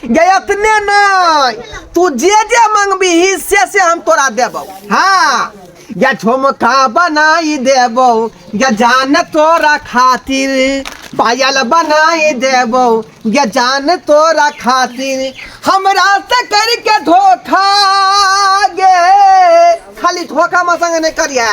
गय अपने नहीं तू जे जे मंगबी से से हम तोरा देबो हाँ या झुमका बनाई देबो या जान तोरा खातिर पायल बनाई देबो या जान तोरा खातिर हमरा से करके धोखा गे खाली धोखा में संग नहीं करिया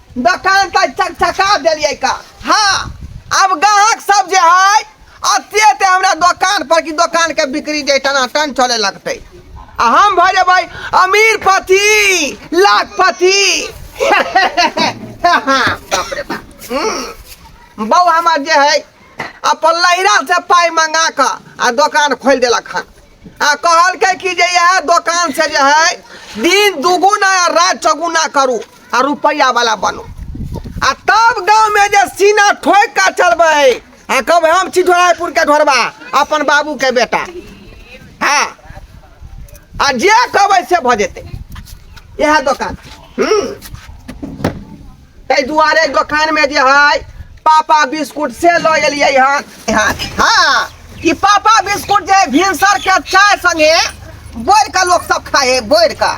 दोकान तऽ चकचका देलियै का हाँ अब ग्राहक सब जे है अते अते हमरा दोकान पर की दोकान के बिक्री जे टनाटन चले लगते आ हम भऽ जेबै अमीर पति लाखपति बाप रे बाप हम्म। बौ हमर जे है अपन लहिरा से पाइ मंगा कऽ आ दोकान खोलि देलक हन आ कहलकै कि जे यह दुकान से जो है दिन दुगुना आ रात चौगुना करू आ रुपया वाला बनू आ तब गांव में जे सीना ठोक का चलबै आ कब हम छी ढोरायपुर के ढोरबा अपन बाबू के बेटा हाँ आ जे कहबै से भऽ जेतै इएह दोकान हूँ ताहि दुआरे दोकान में जे है पापा बिस्कुट से लो एलियै हन हन। हाँ ई पापा बिस्कुट जे भिनसर के चाय संगे बोर के लोग सब खाए है बोर के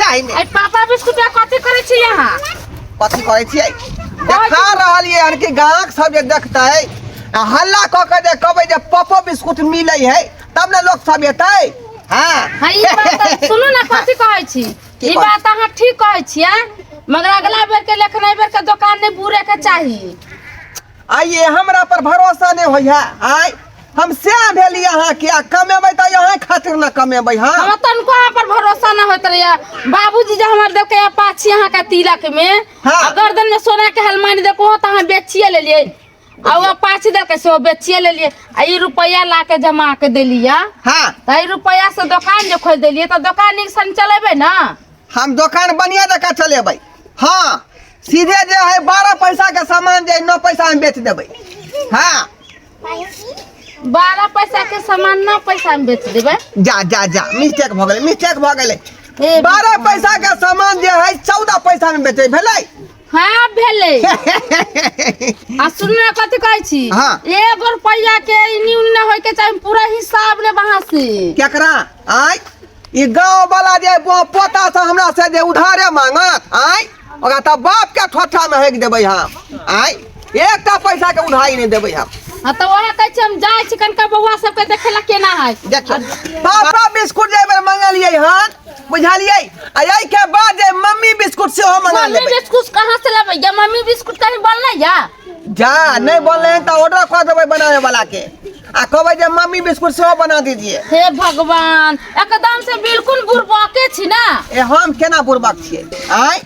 चाय में आई पापा बिस्कुट आ कथी करै छी यहाँ कथी कहै छियै देखा रहल ये हन कि गाहक सब जे देखतै आ हल्ला कऽ के जे कहबै जे पपो बिस्कुट मिलै है तब ने लोग सब एतै हाँ हँ ई बात तऽ सुनू ने कथी कहै छी की ई कहै बात अहाँ ठीक कहै छियै मगर अगला बेर के लेखन एहि बेर के दोकान नहि बूरे के चाही आइए हमरा पर भरोसा नहि होइया आय हम से भेली अहाँ के आ कमेबै तऽ अहाँ खातिर ने कमेबै हाँ हमरा तनको अहाँ पर भरोसा न होइत रहैया बाबूजी जे हमर देलकै या पाछी अहाँ के तिलक में हाँ। आ गर्दन में सोना के हलमानी देलको हो तऽ अहाँ बेचिए लेलियै आ ओ पाँच दे के से ओ बेचिए लेलिए आ ई रुपया ला के जमा के देलिए हाँ तो ई रुपया से दुकान जो खोल देलिए तो दुकान नीक सन चलेबे ना हम दुकान बढ़िया जका चलेबै हाँ सीधे जे है बारह पैसा के सामान जे है, नौ पैसा में बेच देबै हाँ बारह पैसा के सामान ना पैसा में बेच देबे जा जा जा मिस्टेक भऽ गेलै मिस्टेक भऽ गेलै हे बारह पैसा के सामान जे है चौदह पैसा में बेचे भेलै हँ आब भेलै आ सुनू ने कथी कहै छी हाँ। एगो रुपैया के इन्नी उन्नी ना होय के चाही पूरा हिसाब ले वहां से केकरा आय ई गांव वाला जे ब- पोता से हमरा से जे उधारे मांगत आय ओकरा त बाप के ठोठा में हेक देबै हम आय एकटा पैसा के उधारी नहीं देबै हम हाँ तो वहाँ कहै छी हम जाइ छी कनका बौआ सबके देखे ला केना है देखियो पापा बिस्कुट जे बेर मंगलियै हन बुझलिए आई के बाद जे मम्मी बिस्कुट से हो मंगा मम्मी लेबे बिस्कुट कहाँ से लेबै या मम्मी बिस्कुट कहीं बनलै या जा नहीं बोल रहे हैं तो ऑर्डर कर देबै बनाने वाला के आ कहबै जे मम्मी बिस्कुट से हो बना दीजिए हे भगवान एकदम से बिल्कुल बुरबके छी ना ए हम केना बुर्बक छियै आय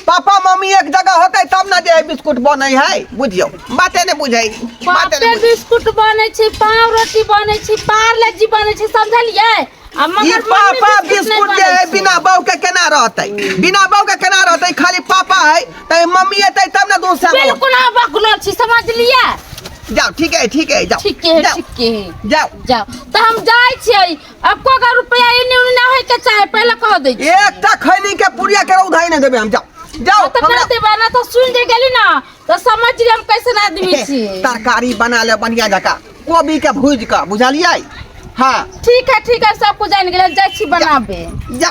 पापा मम्मी एक जगह होते तब ना जे बिस्कुट बने है बुझियो बाते ने बुझे बाते ने बिस्कुट बने छै पाव रोटी बने छै पार्ले जी बने छै समझलिए आ मगर पापा बिस्कुट जे है बिना बहू के केना रहते बिना बहू के केना रहते खाली पापा है त मम्मी एते तब ना दूसरा बिल्कुल आ बकलो छी समझलिए जाओ ठीक है ठीक है जाओ ठीक है ठीक है जाओ जाओ त हम जाय छी अब को का रुपया इने उने ना होय के चाहे पहले कह दे एकटा खैनी के पुड़िया के उधाई नहीं देबे हम जाओ जाओ तो हमरा- ना देबा ना तो सुन जे गेली ना तो समझ जे हम कैसे ना आदमी छी तरकारी बना ले बढ़िया जका कोबी के भूज के बुझलियै हाँ ठीक है ठीक है सब कुछ जान गेल जाय छी बनाबे जा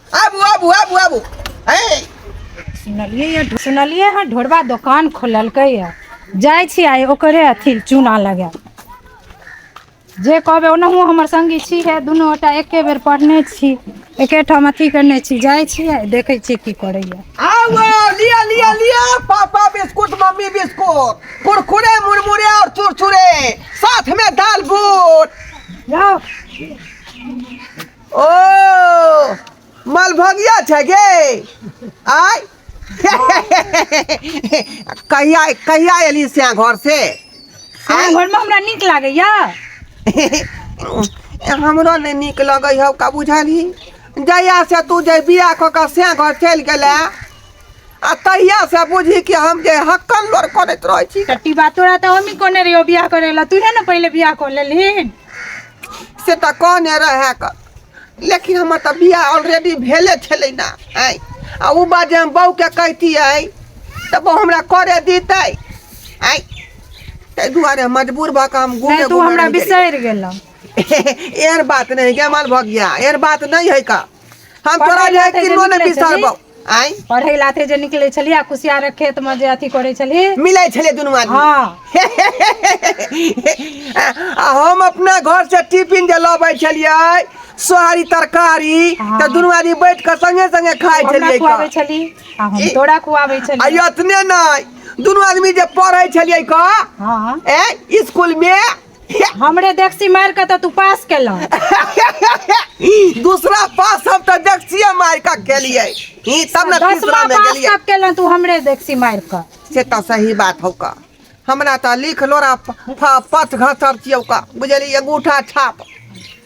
आबू आबू आबू आबू है सुनलियै या सुनलियै हँ ढोरबा दोकान खोललकै या जाइ छी आइ ओकरे अथी चूना लगा जे कहबै ओनाहु हमर संगी छी हे दुनू गोटा एके बेर पढ़ने छी एके ठाम अथी करने छी जाइ छी आ देखै छी की करैया आओ आओ, लिया लिया लिया papa biscuit mummy biscuit Kurkure मुरमुरे और चुरचुरे साथ में दाल बूट जाओ ओ मलभगिया छै गे आय कहिया कहिया एली से घर से अहाँ घरमे हमरा नीक लागैया हमरो नहि नीक लगै हौ का बुझलही जहिया से तू जे बिया कऽ कऽ से घर चलि गेलै आ तहिया से बुझी कि हम जे हक्कन लोर करैत रहै छी टट्टी बात तोरा तऽ हमही कोने रहियो बियाह करे ला तूहे ने पहिले बियाह कर लेलहिन से तऽ कहने रहै क लेकिन हमर तऽ बियाह ऑलरेडी भेले छलै ना आँय आ ओ बात जे हम बहूके कहितियै तऽ बहू हमरा करे दितै आँय ताहि दुआरे मजबूर भऽ कऽ हम घूमे नहि तू घूमे हमरा रहि गेलियै। बिसरि गेलह एहन बात नहीं जमाल भऽ गया एहन बात नहीं है का हम तोरा पढ़ै लए लायक तऽ जे किन्नो नहि निकलै छली। बिसरबौ आँय पढ़ै लाथे जे निकलै छलिय आ कुसियारक खेत मे जे अथी करै छलही मिलै छलै दुनू आदमी हँ आ हम अपना घर से टिफिन जे लबै छलियै सोहारी तरकारी हँ। तऽ दुनू आदमी बैठ कऽ संगे संगे खाइ हमरा छलियै खुआबै क छली आ हम ई- तोरा खुआबै आ छलियौ एतने नहि दुनू आदमी जे पढ़ै छलियै क हँ ए स्कूल मे हमरे देखसी मार के तो तू पास केला दूसरा पास हम तो देखसिए मार का के लिए ई तब ना दसमा तीसरा में पास गेलिए कब केला तू हमरे देखसी मार के से तो सही बात हो का हमरा तो लिख लोरा प- प- पथ घसर छियौ का बुझलिए अंगूठा छाप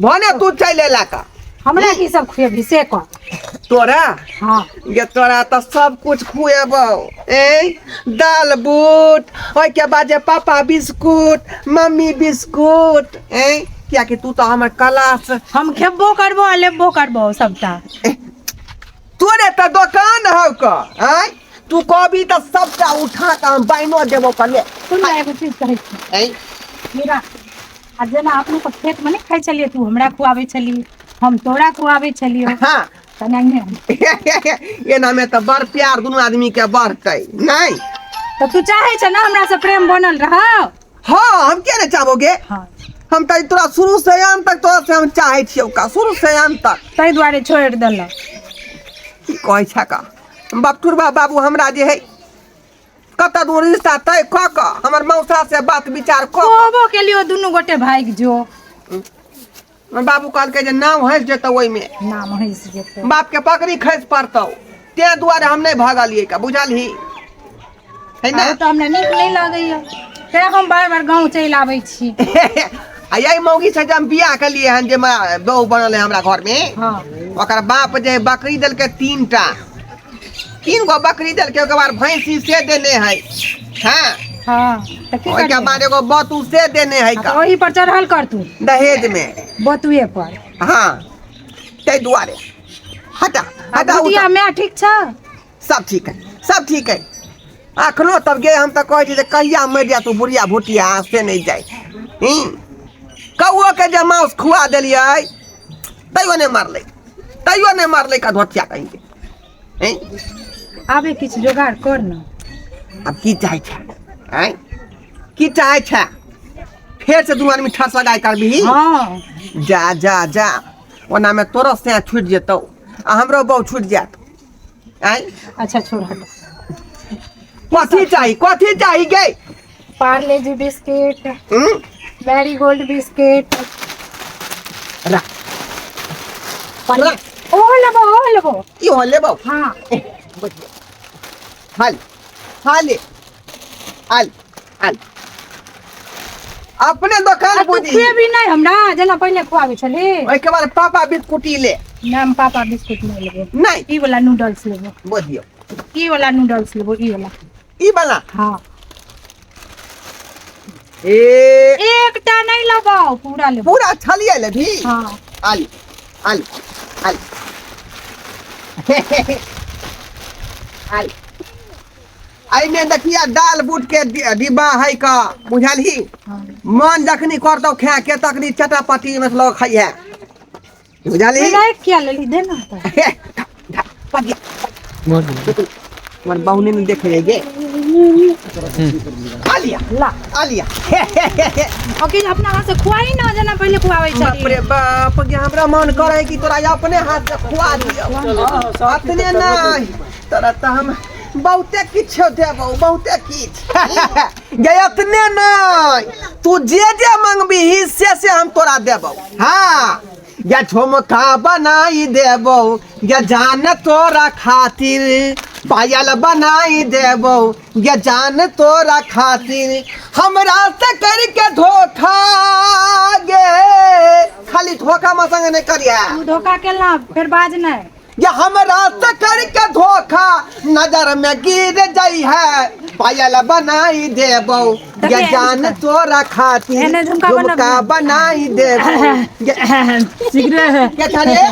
भने तू चलि अयला का हमरा की सब खुएबही से कह तोरा हँ ये तोरा तऽ सब कुछ खुएबो ए दाल बूट ओहिके बाद जे पापा बिस्कुट मम्मी बिस्कुट ए कियाकि तू तऽ हमर क्लास हम खेबो करबो आ लेबो करबो सबटा तोरे तऽ दोकान हौ क आय तू कहबी तऽ सबटा उठा कऽ हम बाइनो देबो कले सुन ना एगो चीज कहै छी ए हीरा आ जेना अपने सब खेत मे नहि खाइ छलियै तू हमरा खुआबै छलही हम तोरा खुआबै छलियौ हँ तेनाहिये हम एनामे तऽ बड़ प्यार दुनू आदमी के बढ़तै नहि तऽ तू चाहै छ ने हमरा से प्रेम बनल रह हँ हम किया नहि चाहबोगे हँ हम तऽ तोरा शुरू से अंत तक तोरा से हम चाहै छियौ का शुरू से अंत तक ताहि दुआरे छोड़ि देलक की कहै छै का बकटुरबा बाबू हमरा जे है कत दूर रिश्ता तय क क हमर मौसा से बात विचार क क। कहबो के लिए दुनू गोटे भागि जो हमर बाबू कहलकै जे नाम हंस जेतौ ओइमे नाम हंस जेतै बाप के पकड़ी खैस पड़तौ तें दुआरे हम नहीं भागलिए का बुझलही है ना आरो तऽ हमरा नीक नहि लगैया तें हम बार बार गाँव चलि आबै छी आ यही मौगी से जे हम बियाह के लिए हन जे बहू बनल है हमरा घर में हाँ ओकर बाप जे बकरी देलकै तीन टा तीन गो बकरी देल के ओकर बाद भैंसी से देने है हाँ हाँ तऽ की ओहिके करतै? बाद एगो बतू से देने है आ का तऽ ओही पर चढ़ल कर तू दहेज में बतुए पर हाँ ताहि दुआरे हटा आ हटा बुढ़िया उठा। माय ठीक छ सब ठीक है सब ठीक है अखनो तब गे हम तऽ कहै छी जे कहिया मरि जाय तू बुढ़िया भुटिया से नहि जाय हूँ कौओ के जे माउस खुआ देलियै तैयो नहि मारलै तैयो नहि मारलै का धोतिया कहीं के हैं? आबे किछु जोगाड़ कर ने अब की चाहे छा हैं? की चाहे छा फेर से दू आदमी ठस लगाए कर भी हँ जा जा जा ओना में तोरो से छूट जेतौ आ हमरो बहु छूट जात आय अच्छा छोड़ हट कथी चाही कथी चाही गे पार्ले जी बिस्किट हम्म? मैरी गोल्ड बिस्किट रा रा ओ लेबो ओ लेबो ई हो ले बाबू हाँ हाल हाले हाल हाल अपने आ दोकान तू बुझी खुएबी नहीं हमरा जेना पहिले खुआबै छली ओहिके बाद पापा बिस्कुटी ले नहीं हम पापा बिस्कुट नहीं लेबो नहीं ई वाला नूडल्स लेबो बुझियो ई वाला नूडल्स लेबो ई वाला ई वाला हाँ ए एकटा नहीं लगाओ पूरा ले पूरा छलिए ले भी हाँ आलू आलू आलू आलू आई में देखिया दाल बूट के डि- डिब्बा है का बुझल ही हाँ मन जखनी करतो खा के तखनी चटापटी मतलब खाइए बुझलही राखि किया लेलही दे ने तऽ हमर बाहुने नहि देखैए गे आलिया ला आलिया हे हे हे हे अखिल अपना हाथ से खुआई ना जेना पहिले खुआबै बाप छली रे बाप गे हमरा मन करे कि तोरा अपने हाथ से खुआ दियो अपने नहीं तोरा तऽ हम बहुते किछो देबौ बहुते किछ गे एतने नहि तू जे जे मंगबीही से से हम तोरा देबौ हाँ या झुमका बनाई देबौ या जान तोरा खातिर पायल बनाई देबौ या जान तोरा खातिर हमरा से करके धोखा गे खाली धोखा मसंग नहि करिया तू धोखा केला फिर बाज नहीं या हमरा से करके धोखा नजर में गिर जाई है पायल बनाई देबो या जान तोरा खातिर एने झुमका बना- झुमका बनाई देबो या- सिगरेट क्या था रे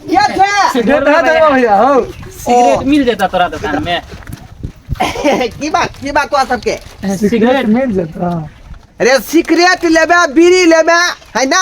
क्या था सिगरेट है देबो भैया हो सिगरेट मिल जाता तोरा दुकान में की बात की बात हुआ सबके सिगरेट मिल जाता रे सिगरेट लेबे बीड़ी लेबे है ना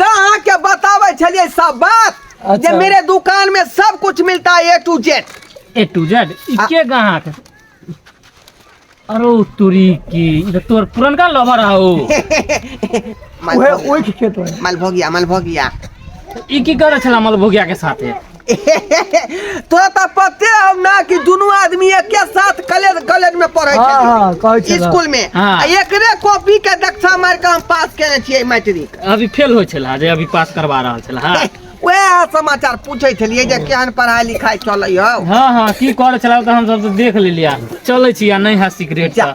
गाह के बतावे छलिए सब बात जे अच्छा। मेरे दुकान में सब कुछ मिलता है A to Z A to Z ई आ- के गाहक अरे तुरी की ई तो तोर पुरनका लवर हो माल भोगिया माल भोगिया माल भोगिया ई की करे छला मल भोगिया के साथे तो त पते हो ना कि दोनों आदमी एके साथ कॉलेज कॉलेज में पढ़े हाँ, छे हाँ, कहै छे स्कूल में हाँ। आ एकरे कॉपी के दक्षा मार के हम पास केने छियै मैट्रिक अभी फेल होइ छला जे अभी पास करवा रहल छला हाँ वह समाचार पूछे छलिए जे केहन पढ़ाई लिखाई चले हो हाँ हाँ की करे छला त हम सब त देख लेलिया चलै छी आ नहीं है सिगरेट जा,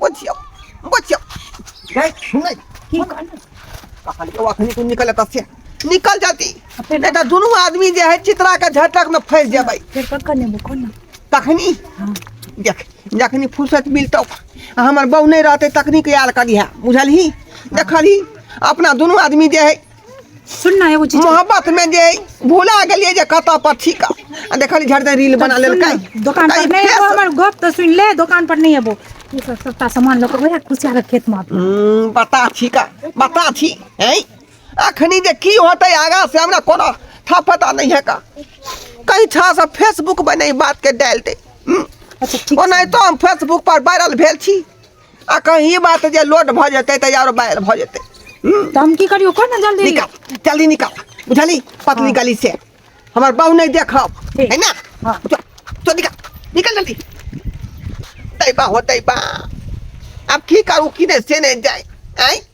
Bocil. Bocil. Guys, सुनै की कहलियै कहलियै अखनी तू निकल एतऽ से निकल जाती नहीं तो दोनों आदमी जे है चित्रा के झटक में फंस जेबै फेर कक्का ने बोको ना तखनी देख जखनी फुर्सत मिलतौ आ हमर बहू नहीं रहते तखनी के यार करिहा बुझलही देखलही अपना दोनों आदमी जे है सुन ना एगो चीज मोहब्बत में जे भुला गेलिए जे कत पर ठीक आ देखली झट दे रील बना लेल का दुकान पर नहीं एबो हमर गप तो सुन ले दुकान पर नहीं एबो ये सब सस्ता सामान लोग वही खुशिया के खेत में हम्म, बता छी का बता छी हैं अखनी जे की होते आगा से हमरा कोनो था पता नहीं है का कहीं था सब फेसबुक पर नहीं बात के डाल दे हम्म, अच्छा ठीक ओ नहीं तो हम फेसबुक पर वायरल भेल छी आ कहीं ई बात जे लोड भऽ जेतै तऽ यार बाहर भऽ जेतै हम्म, तऽ हम की करियो कर ना जल्दी निकाल जल्दी निकाल बुझली पतली गली से हमर बहू नहीं देखब ठीक। है ना हाँ। तो, तो निकाल निकाल जल्दी दैबा हो दैबा अब की करू की नहीं से नहीं जाए आई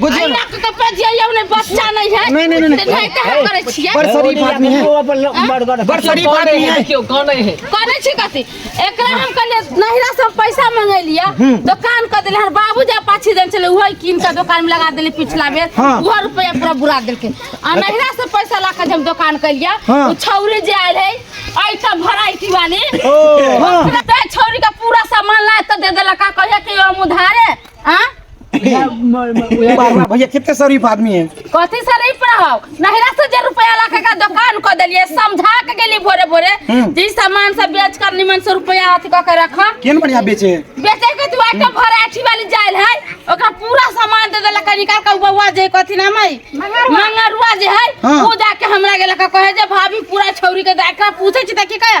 बुझियो ना अहिना के तऽ पेजिया यौ ने बच्चा नहीं है नहीं, नहीं, नहीं, ते नहीं कहा करे छियै बड़ शरीफ आदमी है बड़ शरीफ आदमी है केओ कानै है करे छी कथी एकरा हम कहलिए नहिरा से हम पैसा मंगेलिया दुकान क देले हन बाबू जा पाछी देन चले वही कीन के दुकान में लगा देले पिछला बेर हाँ। वो रुपया पूरा बुरा देलके आ नहिरा से पैसा ला के जे हम दुकान कलिया हाँ। उ छौरी जे आयल है ऐठा भराइटी वाली हाँ। ते छौरी का पूरा सामान ला त दे देला का कहिया के हम उधारे आ भैया कितने शरीफ आदमी है कथी से नहीं पढ़ाओ नहिरा से जे रुपया ला के का दुकान को देलिए समझा के गेली भोरे भोरे हम्म। जी सामान सब बेच कर निमन से रुपया अथी क के रखा केन बढ़िया बेचे है बेचे के तू आटा भर आठी वाली जाइल है ओकरा पूरा सामान दे देला कनी का का बउआ जे कथी नाम है मंगरुआ जे है हाँ। वो जाके हमरा गेला का कहे जे भाभी पूरा छौरी के देखा पूछे छी त की कहे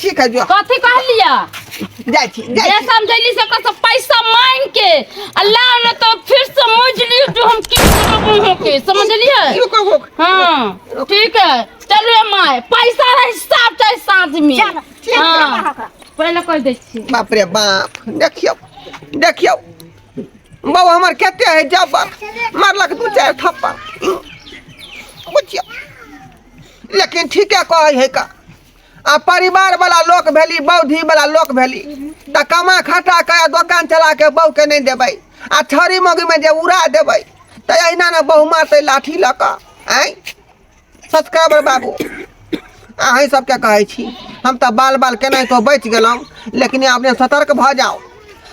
ठीक है जो कथी कहलिया जाय छी जाय जे छी समझैली से कस पैसा मांग के अल्लाह ने तो फिर समझली जो हम की करबो हो के समझलिए रुक रुक हां ठीक है चलो माय पैसा रे हिसाब चाहे साथ में चलो, ठीक है, हाँ, बाहर का। पहले कह दै छी बाप रे बाप देखियो देखियो बाबा हमर खेते है जबर मारलक दू चार थप्पड़ बुझियो लेकिन ठीके कहै है का आ परिवार वाला लोक भेली बौद्धि वाला लोक भेली तऽ कमा खटा के आ दोकान चला के बहू के नहीं देबै आ छड़ी मगी में जे उड़ा देबै तऽ अहिना ने बहू मारतै लाठी लऽ कऽ आँय सब्सक्राइबर बाबू अहीं सबके कहै छी हम तऽ बाल बाल केनाहितो बचि गेलहुँ लेकिन अपने सतर्क भऽ जाउ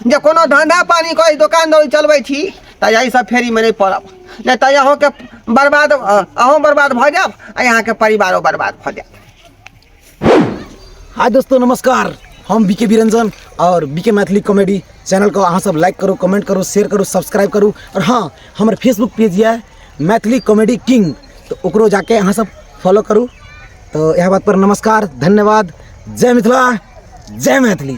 जे कोनो धंधा पानी करै दोकान दौरी चलबै छी तऽ एहि सब फेरीमे नहि पड़ब नहि तऽ अहूँके बर्बाद अहूँ बर्बाद भऽ जायब आ अहाँके परिवारो बर्बाद भऽ जायत हाय दोस्तों नमस्कार हम बी के विरंजन और B K Maithili comedy channel को अहाँ सब लाइक करू कमेंट करू शेयर करू सब्सक्राइब करू और हाँ हमर फेसबुक पेज यऽ मैथिली कॉमेडी किंग तऽ ओकरो जाके अहाँ सब फॉलो करू तऽ इएह बात पर नमस्कार धन्यवाद जय मिथिला जय मैथिली